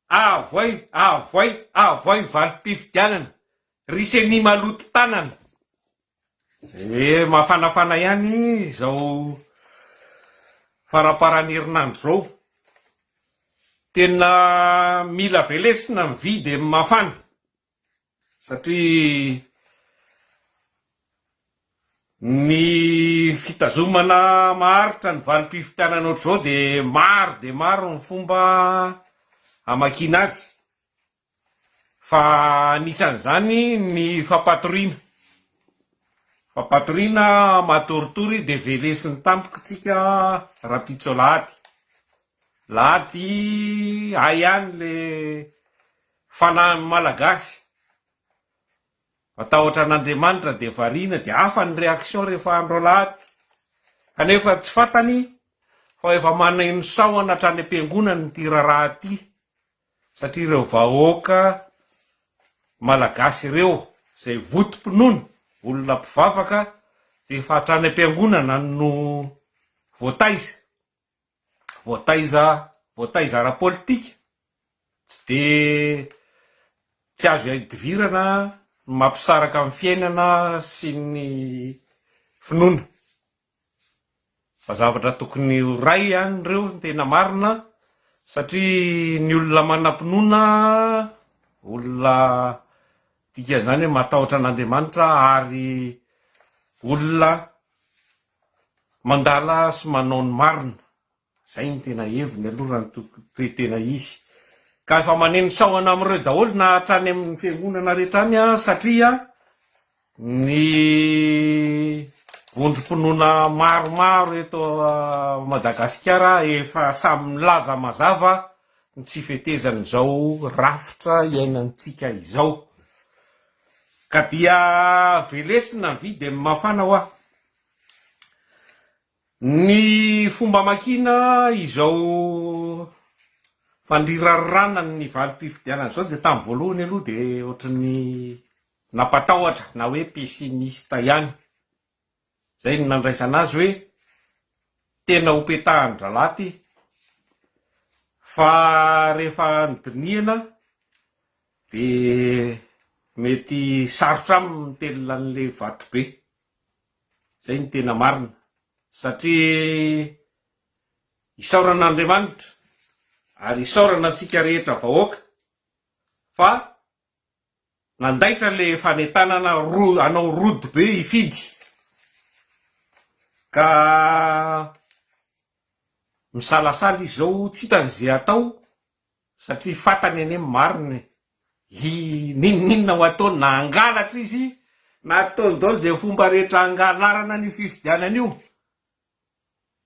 Avoay, avoay, avoay valim-pifidianana, ry ceni maloto tanana. Ee, mafanafana ihany izao faramparan'ny herinandro izao. Tena mila velesina ny vy dia mafana. Satria ny fitazomana maharitra ny valim-pifidianana ohatr'izao dia maro dia maro ny fomba hamakiana azy, fa anisan'izany ny fampatoriana. Fampatoriana matoritory dia velesin'ny tampoka tsika rahampitso alahady. Alahady hay any le. Fa na ny Malagasy matahotra an'Andriamanitra dia variana dia hafa ny réaction rehefa andro alahady kanefa tsy fantany fa efa maneno sahona hatrany am-piangonana ity raharaha ity satria ireo vahoaka Malagasy ireo izay votom-pinoana olona mpivavaka dia efa hatrany am-piangonana no voataiza. voataiza voataiza ara-politika, tsy dia tsy azo iadivirana ny mampisaraka amin'ny fiainana sy ny finoana. Fa zavatra tokony ho ray ihany ireo ny tena marina satria ny olona manam-pinoana, olona dikan'izany hoe matahotra an'Andriamanitra ary olona Mandala sy manao ny marina, izay ny tena heviny aloha raha ny toe tena izy. Ka efa maneno sahona amin'ireo daholo na hatrany amin'ny fiangonana rehetra any an, satria ny vondrom-pinoana maromaro eto Madagasikara efa samy milaza mazava ny tsy fetezan'izao rafitra iainantsika izao. Ka dia velesina ny vy dia ny mafana hoa. Ny fomba amakiana izao fandirarana ny valim-pifidianana izao dia tamin'ny voalohany aloha dia ohatran'ny nampatahotra na hoe pessimiste ihany. Izay no nandraisana azy hoe tena ho petahan-drahalahy ity. Fa rehefa nodinihana dia mety sarotra aminy ny mitelina an'ilay vato be. Izay no tena marina. Satria isaorana an'Andriamanitra ary isaorana antsika rehetra vahoaka fa. Nandaitra le fanentanana ro hanao road be hifidy ka misalasala izy zao tsy hitany ze atao satria fatany anie ny marina e! hi ninoninona ho ataony na hangalatra izy na ataony daoly ze fomba rehetra hangalarana an'io fifidianana io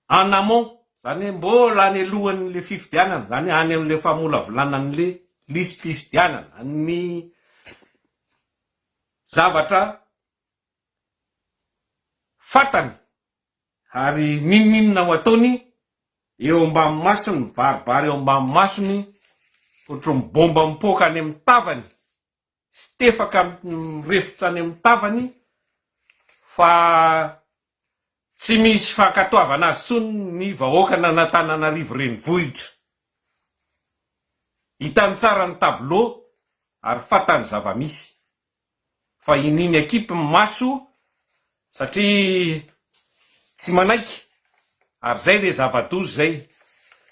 en amont, izany hoe mbola any alohan'ilay fifidianana, izany hoe any amin'ilay famolavolanan'ilay lisi-pifidianana, ny zavatra fantany ary n'inon'inona ho ataony eo ambanin'ny masony, mibaribary eo ambanin'ny masony, ohatry ny bomba mipoaka any amin'ny tavany. sy tefaka mirefotra any amin'ny tavany fa tsy misy fankatoavana azy intsony ny vahoakan'Anatananarivo renivohitra. Hitany tsara ny tableau ary fantany zava-misy fa iniany akipy ny maso satria tsy manaiky ary zay le zava-doza zay.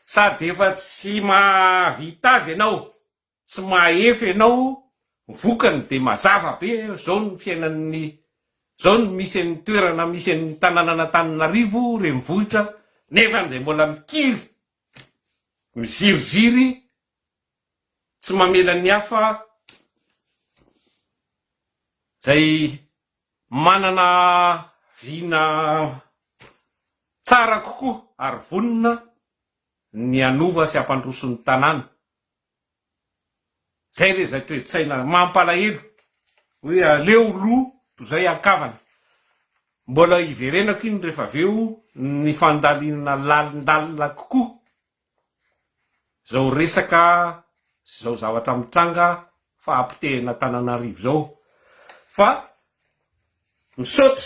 Sady efa tsy mahavita azy ianao. Tsy mahefa ianao ny vokany dia mazava be zao ny fiainan'ny zao ny misy an'ny toerana misy an'ny tananan'Antananarivo renivohitra nefa dia mbola mikiry miziriziry tsy mamela ny hafa zay manana vina tsara kokoa ary vonona ny hanova sy hampandroso ny tanàna Zay re zay toe-tsaina mampalahelo hoe aleo lo to zay an-kavana. Mbola iverenako iny rehefa avy eo ny fandalinana lalindalina kokoa zao resaka sy zao zavatra mitranga fahapotehina Tananarivo zao fa misaotra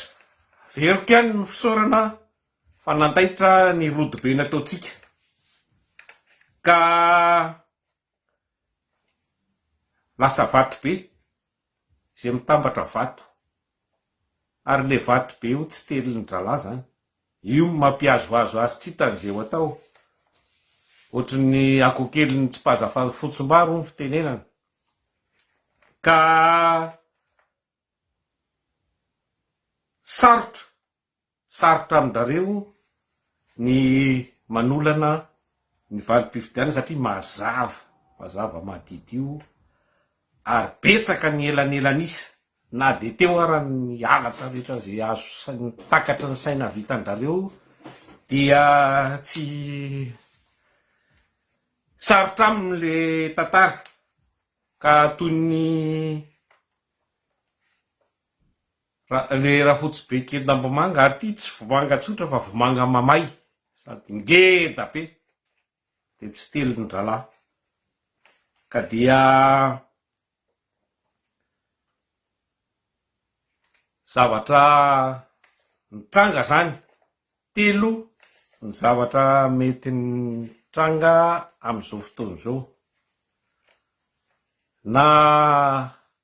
averiko ihany ny fisaorana Fa nandaitra ny rodobe nataontsika, ka lasa vato be, izay mitambatra vato. Ary ilay vato be io tsy telin-drahalahy izany. Io no mampihazohazo azy tsy hitany izay ho atao. Ohatry ny akoho kely nitsipaza fotsim-bary hoy ny fitenenana. Ka sarotra Sarotra amin-drareo ny manolana ny valim-pifidianana satria mazava, mazava madidio ary betsaka ny elanelan'isa. Na dia teo ara ny halatra rehetra izay azo saina, takatry ny saina vitan-drareo dia tsy sarotra aminy le tantara ka toy ny. Ilay rafotsy be kendam-bomanga ary ity tsy vomanga tsotra fa vomanga mamay sady ngeda be dia tsy telin-drahalahy ka dia zavatra nitranga zany telo ny zavatra mety nitranga amin'izao fotoana izao na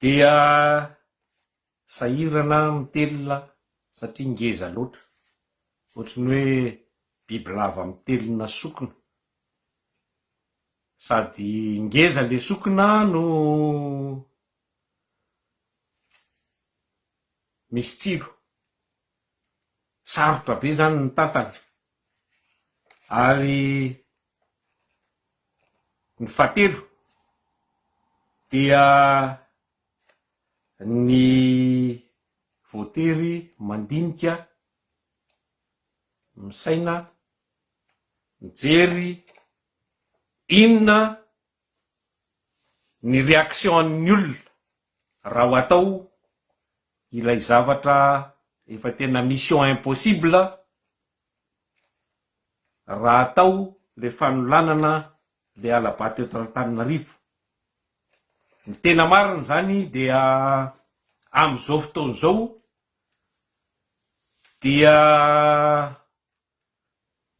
Dia sahirana mitelina satria ngeza loatra, ohatry ny hoe bibilava mitelina sokina, sady ngeza le sokina no misy tsilo. sarotra be zany ny tantana ary ny fahatelo dia ny voatery mandinika misaina mijery inona ny réaction an'ny olona raha ho atao ilay zavatra efa tena mission impossible raha atao le fanolanana le hala-bato eto Antananarivo. Ny tena marina izany dia amin'izao fotoana izao dia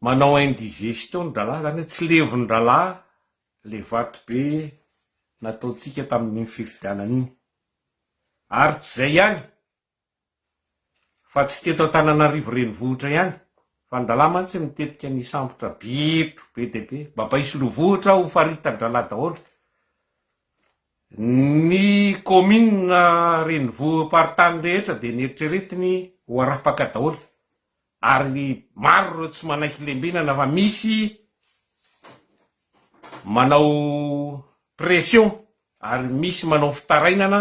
Manao indigestion ny dralah zany hoe tsy levon dralah le vato be nataontsika tamin'iny fifidianana iny ary tsy zay ihany fa tsy teto Antananarivo renivohitra ihany fa ny dralah mantsy mitetika ny hisambotra bitro be dia be mba mba isolovohitra ho faritan dralah daholo ny commune renivohi-paritany rehetra dia neritreretiny ho arapaka daholo ary maro ireo tsy manaiky lembenana fa misy manao pression ary misy manao fitarainana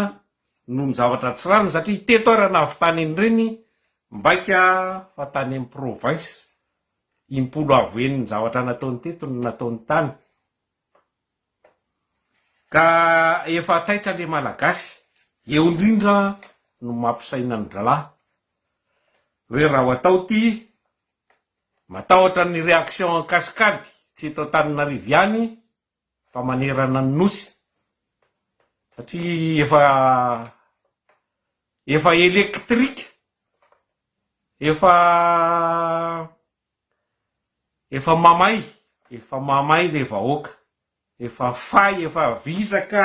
noho ny zavatra tsy rariny satria teto ary na avy tany an'ireny mbaika fa tany amin'ny province impolo avo eny ny zavatra nataony teto no nataony tany. Ka efa taitra le malagasy. Eo indrindra no mampisaina ny dralahy hoe raha ho atao ity, matahotra ny réaction en cascade tsy eto Antananarivo ihany fa manerana ny Nosy satria efa efa électrique, efa Efa mamay efa mamay le vahoaka efa fay efa vizaka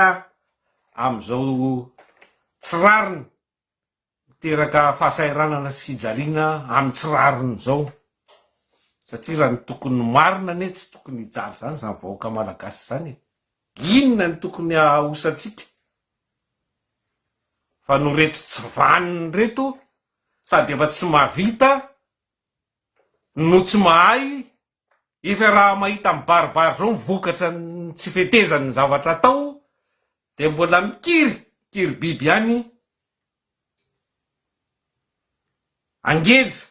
amin'izao tsy rariny miteraka fahasahiranana sy fijaliana amin'ny tsy rariny izao satria raha ny tokony marina anie tsy tokony hijaly izany izany vahoaka malagasy izany e! inona ny tokony hahosantsika fa no reto tsy vaniny reto sady efa tsy mahavita no tsy mahay efa raha mahita mibaribary zao ny vokatra ny tsy fetezany ny zavatra atao dia mbola mikiry kiry biby ihany angeja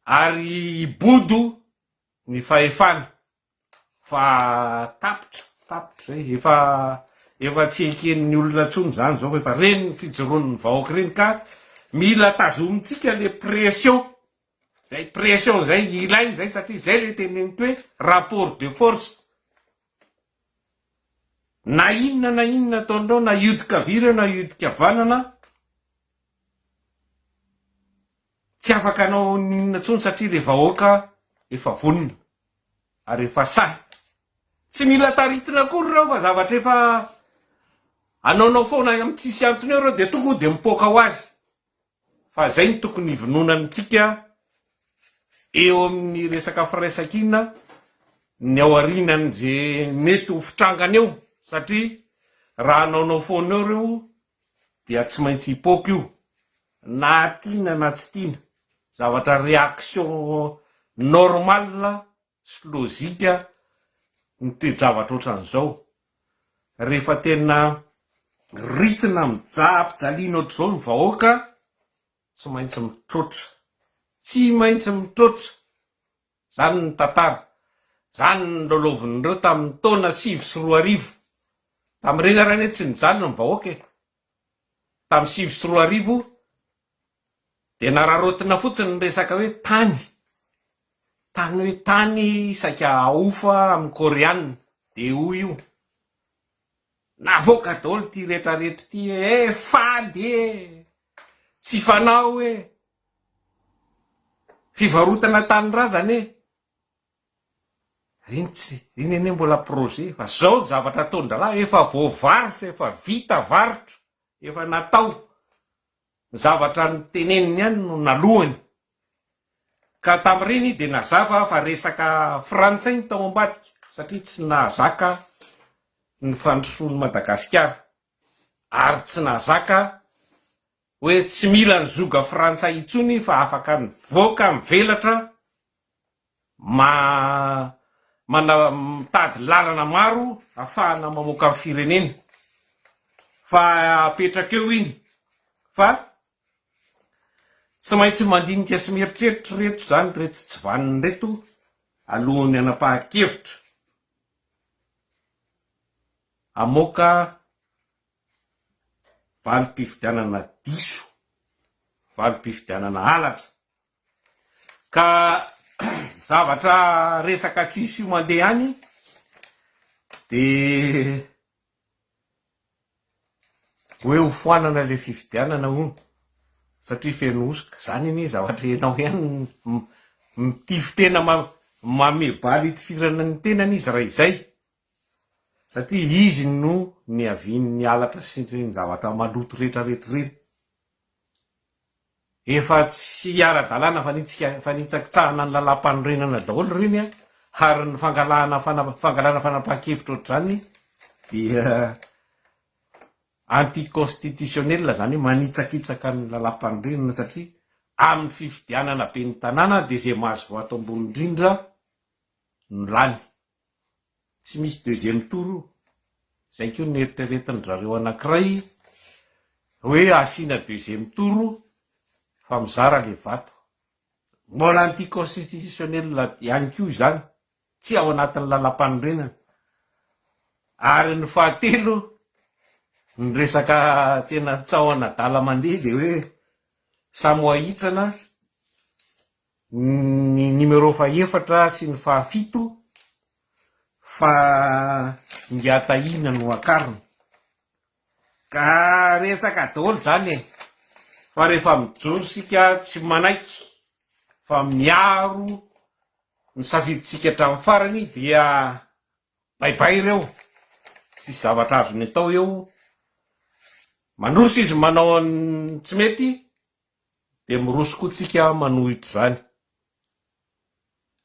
ary hibodo ny fahefana Fa tapitra, tapitra izay, efa efa tsy eken'ny olona intsony izany izao fa efa reny ny fijoroan'ny vahoaka ireny ka mila tazomintsika ilay pression izay pression izay ilaina izay satria izay ilay teneniko hoe rapport de force. Na inona na inona ataonareo na hiodin-kavia ireo na hiodin-kavanana, Tsy afaka hanao n'inona tsony satria le vahoaka efa vonona ary efa sahy. Tsy mila taritina akory reo fa zavatra efa anaonao foana am tsisy antony eo reo de tokony de mipoaka ho azy fa zay no tokony hivononany tsika eo aminy resaka firaisakina ny ao arinany ze mety ho fitrangana eo satria raha anaonao foana eo reo dia tsy maintsy hipoaka io na tiana na tsy tiana, zavatra réaction normale sy logique ny toe-javatra ohatran'izao, rehefa tena ritina mijaha-pijaliana ohatr'izao ny vahoaka, tsy maintsy mitroatra, tsy maintsy mitroatra. Izany ny tantara. Izany no nilolovin'ireo tamin'ny taona sivy sy roa arivo. Tamin'ireny ary anie tsy nijanona ny vahoaka e! Tamin'ny sivy sy roa arivo dia nararaotina fotsiny ny resaka hoe tany. Tany hoe tany saika ahofa amin'ny Koreana. Dia hoy io. Navoaka daholo ity rehetra rehetra ity e! Fady e! Tsy fanao e! Fivarotana tanindrazana e! Iny tsy, iny anie mbola projet fa zao ny zavatra ataon-drahalahy efa voavarotra, efa vita varotra, efa natao. Ny zavatra noteneniny ihany no naloany. Ka tamin'ireny izy dia nazava fa resaka frantsay ny tao ambadika satria tsy nahazaka ny fandrosoan'i Madagasikara ary tsy nahazaka hoe tsy mila ny zoga frantsay intsony fa afaka mivoaka mivelatra ma mana mitady lalana maro afahana mamoaka ny firenena fa apetraka eo iny fa tsy maintsy mandinika sy mieritreritra reto zany reto tsy vaniny reto alohan'ny anapahan-kevitra amoaka valim-pifidianana diso, valim-pifidianana halatra. Ka zavatra resaka tsisy io mandeha any dia hoe ho foanana ilay fifidianana hono satria feno hosoka. Izany anie zavatra ianao ihany mitifo tena, mamebaly hitifirana ny tenany izy raha izay. Satria izy no niavian'ny halatra sy ireny zavatra maloto rehetra rehetra ireny. Efa tsy ara-dalàna fa nitsika fa nitsakitsahana ny lalàmpanorenana daholo ireny an, ary ny fangalahana fangalana fanapahan-kevitra ohatr'izany dia anti-constitutionnel izany hoe manitsakitsaka ny lalàmpanorenana satria amin'ny fifidianana ben'ny tanàna dia izay mahazo voto ambony indrindra no lany. tsy misy deuxième tour io, zay ko no eritreretin drareo anakiray hoe asiana deuxième tour fa mizara le vato, mbola anti constitutionnel ihany ko izany, tsy ao anatin'ny lalampanorenana, ary ny fahatelo ny resaka tena tsaho anadala mandeha de hoe samy ho ahitsana, ny numéro fahefatra sy ny fahafito fa Ngiatahina no akariny ka resaka daholo izany e, fa rehefa mijoro isika tsy manaiky fa miaro ny safidintsika hatramin'ny farany dia baibay ireo, tsisy zavatra azony atao eo, mandroso izy manao ny tsy mety Dia miroso koa tsika manohitra izany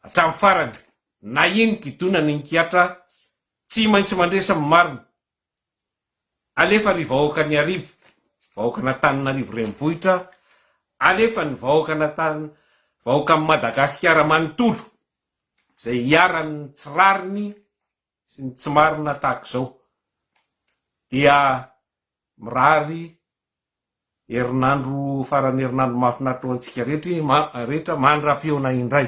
hatramin'ny farany na iny gidona na iny kiatra tsy maintsy mandresy ny marina alefa ry vahoaka ny arivo vahoaka an'Antananarivo renivohitra alefa ny vahoaka an'Antan vahoakan'i Madagasikara manontolo izay iharan'ny tsy rariny sy ny tsy marina tahaka izao dia mirary herinandro faran'ny herinandro mahafinaritra ho antsika rehetra mandra-pihaona indray.